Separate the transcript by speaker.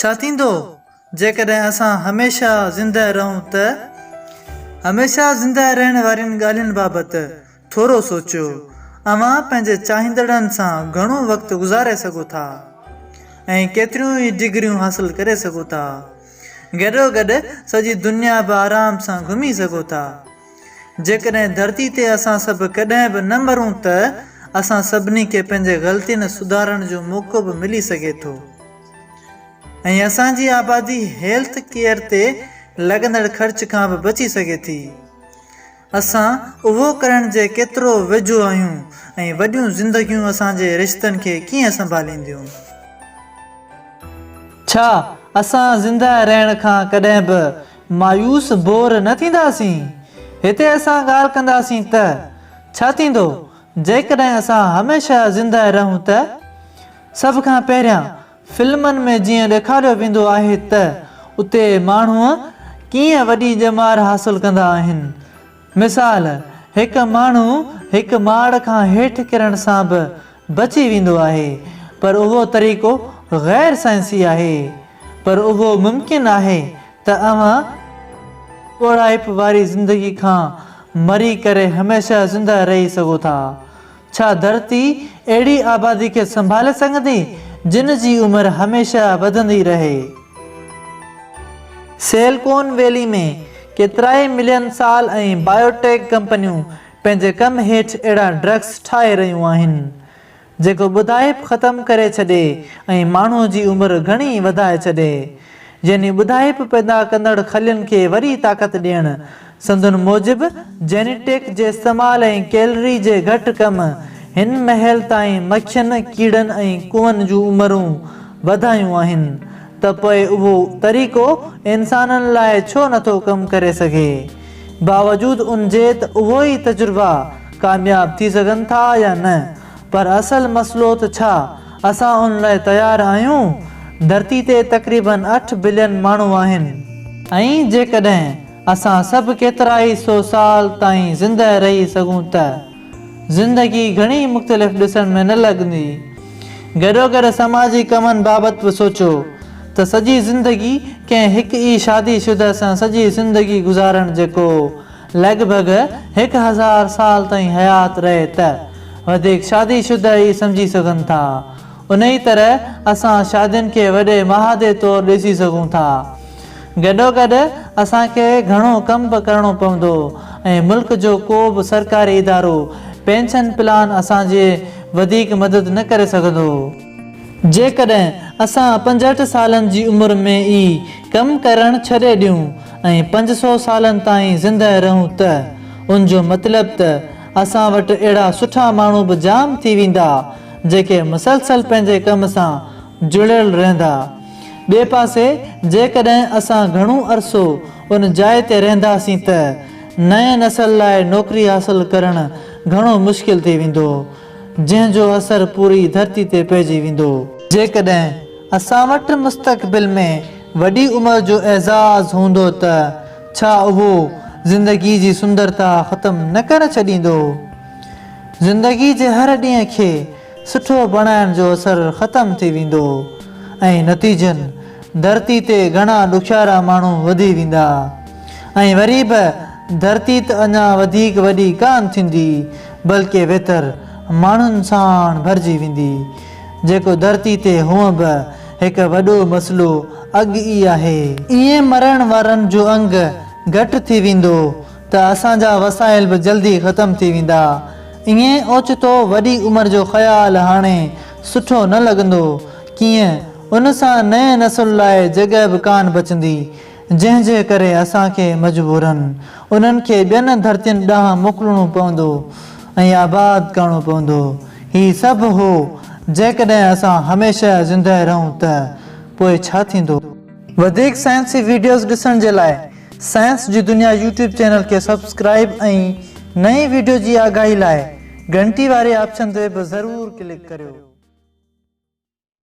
Speaker 1: ڇا ٿيندو جيڪڏهن اسان هميشه زندهه رهون ته؟ هميشه زندهه رهڻ وارين ڳالهين بابت ٿورو سوچيو. اوهان پنهنجي چاهيندڙن سان گهڻو وقت گذاري سگهو ٿا ۽ ڪيتريون ئي ڊگريون حاصل ڪري سگهو ٿا. گڏوگڏ سڄي دنيا به آرام سان گهمي سگهو ٿا. جيڪڏهن ڌرتي تي اسان سڀ ڪڏهن به نه مرون ته اسان سڀني کي پنهنجي غلطين سڌارڻ جو موقعو به ملي سگهي ٿو ۽ اسان جي آبادي هيلٿ ڪيئر تي لڳندڙ خرچ کان به بچي سگهي ٿي. اسان اهو ڪرڻ جي ڪيترو ويجهو آهيون ۽ وڏيون زندگيون اسان جي رشتن کي ڪيئن سنڀالينديون؟ ڇا اسان زنده رهڻ کان ڪڏهن به مايوس، بور، نه ٿينداسين. هتي اسان ڳالهه ڪنداسين ته، ڇا ٿيندو جيڪڏهن اسان هميشه زندهه رهون ته؟ سڀ کان پهريان فلمن ۾ جيئن ڏيکاريو ويندو آهي ته اتي ماڻهو ڪيئن وڏي ڄمار حاصل ڪندا آهن. مثال، هڪ ماڻهو هڪ ماڙ کان هيٺ ڪرڻ سان به بچي ويندو آهي، پر اهو طريقو غير سائنسي آهي. پر اهو ممڪن آهي ته اوهان ڳوڙهائپ واري زندگي کان مري ڪري هميشه زنده رهي سگهو ٿا. ڇا ڌرتي اهڙي آبادي کي سنڀالي سگهندي جن جي عمر هميشه وڌندي رهي؟ سيلڪون ويلي ۾ ڪيترائي ملين سال ۽ بائيوٽيڪ ڪمپنيون پنهنجي ڪم هيٺ اهڙا ڊرگس ٺاهي رهيون آهن جيڪو ٻڌائپ ختم ڪري ڇڏي ۽ ماڻهو جي عمر گهڻي وڌائي ڇڏي يعني ٻڌائپ پيدا ڪندڙ خلين کي وري طاقت ڏيڻ. سندن موجب، جينيٽڪ جي استعمال ۽ ڪيلري جي گهٽ ڪم، هن مهل تائين مکين، ڪيڙن ۽ ڪوئن جون عمرون وڌايون آهن، ته پوء اهو طريقو انسانن لاء ڇو نٿو ڪم ڪري سگهي؟ باوجود ان جي ته اهوئي تجربا ڪامياب ٿي سگهن ٿا يا نه، پر اصل مسئلو ته ڇا اسان ان لاء تيار آهيون؟ ڌرتي تي تقريباً اٺ بلين ماڻهو آهن. ۽ جيڪڏهن اسان سڀ ڪيترائي سو سال تائين زندهه رهي سگهون ته زندگي گهڻي مختلف ڏسڻ ۾ نه لڳندي. گڏوگڏ سماجي ڪمن بابت به سوچو ته سڄي زندگي ڪنهن هڪ ئي شادي شده سان سڄي زندگي گذارڻ جيڪو لڳ ڀڳ هڪ هزار سال تائين حيات رهي ته وڌيڪ شادي شده ئي سمجهي سگهن ٿا. انهيء طرح اسان شادين کي وڏي معاهدي طور ڏسي سگهون ٿا. گڏوگڏ اسان کي گهڻو ڪم به ڪرڻو پوندو ۽ ملڪ جو ڪو به سرڪاري ادارو پينشن پلان اسان جي وڌيڪ مدد نه ڪري سگهندو. جيڪڏهن اسان پنجهٺ سالن جي عمر ۾ ئي ڪم ڪرڻ ڇڏي ڏيون ۽ پنج سؤ سالن تائين زندهه رهون ته ان جو مطلب ته اسان وٽ اهڙا سٺا ماڻهو به جام ٿي ويندا جيڪي مسلسل پنهنجي ڪم سان جڙيل رهندا. ٻئي پاسي جيڪڏهن اسان گهڻو عرصو ان جاء تي رهنداسين ته نئين نسل لاء نوڪري حاصل ڪرڻ گهڻو مشڪل ٿي ويندو. جنهن جو اثر پوري ڌرتي تي پئجي ويندو. جيڪڏهن اسان وٽ مستقبل ۾ وڏي عمر جو اعزاز هوندو ته ڇا اهو زندگي جي سندرتا ختم نه ڪري ڇڏيندو؟ زندگي جي هر ڏينهن کي سٺو بڻائڻ جو اثر ختم ٿي ويندو ۽ نتيجن ڌرتي تي گهڻا ڏکيارا ماڻهو وڌي ويندا ۽ وري به ڌرتي ته اڃا وڌيڪ وڏي ڪانه ٿيندي بلڪه ويتر ماڻهن ساڻ ڀرجي ويندي، جيڪو ڌرتي تي هونء به هڪ وڏو مسئلو اڳ ئي آهي. ائين مرڻ وارن جو انگ گهٽ ٿي ويندو ته اسان جا وسائل به جلدي ختم ٿي ويندا. ائين اوچتو وڏي عمر جو خيال هاڻي سٺو نه لڳندو. ڪيئن ان سان نئين نسل لاء جڳهه به ڪانه بچندي. جنهن جي ڪري اسان کي مجبوراً انهن کي ٻين ڌرتين ڏانهن موڪلڻو پوندو ۽ آباد ڪرڻو پوندو. هي سڀ هو، جيڪڏهن اسان هميشه زندهه رهون ته پوء ڇا ٿيندو؟ وڌيڪ سائنسي ويڊيوز ڏسڻ جي لاء سائنس جي دنيا يوٽيوب چينل کي سبسڪرائيب ۽ نئين ويڊيو جي آگاهي لاء گهنٽي واري آپشن تي به ضرور ڪلڪ ڪريو.